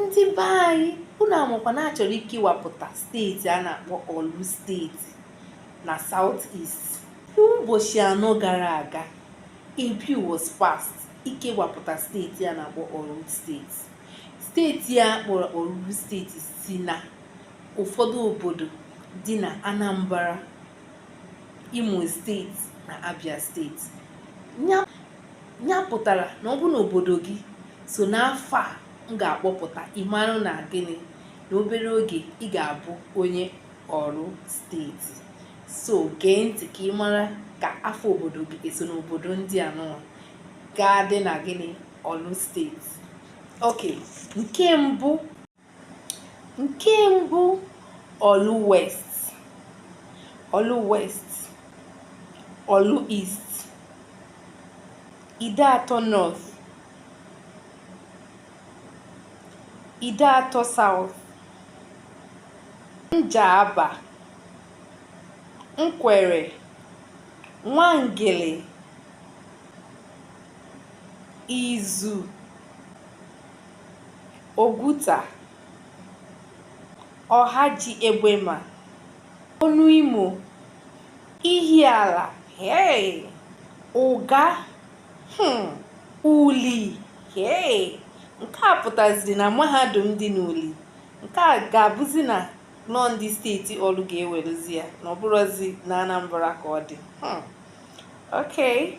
ndị be anyị unu amakwa na achọrọ ikewapụta steeti a na-akpọ Orlu steeti na South East ụbọchị anọ gara aga a bill was passed ikewapụta steeti a na-akpọ Orlu steeti steeti a kpọrọ Orlu steeti si na ụfọdụ obodo dị na Anambra Imo steeti na Abia steeti ya pụtara na ọ bụ na obodo gị so n'afa m ga-akpọpụta ị mara na gịnị na obere oge ị ga-abụ onye Orlu steeti so gee ntị ka ị mara ka afa obodo gị eso n'obodo ndị a nụwa ga-adị na gịnị Orlu steeti okay nke mbụ nke mbụ Oru West Oru West Oru East Ideato North Ideato South Njaba Nkwerre Nwangele Isu Oguta, Ohaji Egbema, Onuimo, Ihiala, hey, Uga, hmm, Uli, hey. Nke a pụtaziri na mahadum dị n'Uli. Nke a ga-abụzi na ọ ndị steeti Orlu ga-ewerezi ya na ọ bụrọzi na Anambra ka ọ dị. Hmm. Okay.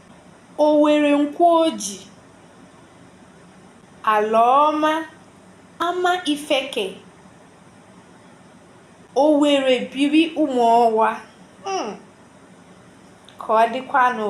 Owerre Nkworji, Alaoma, Amaifeke, Owerrebiri Umuowa. Hmm. Ka ọ dịkwanụ.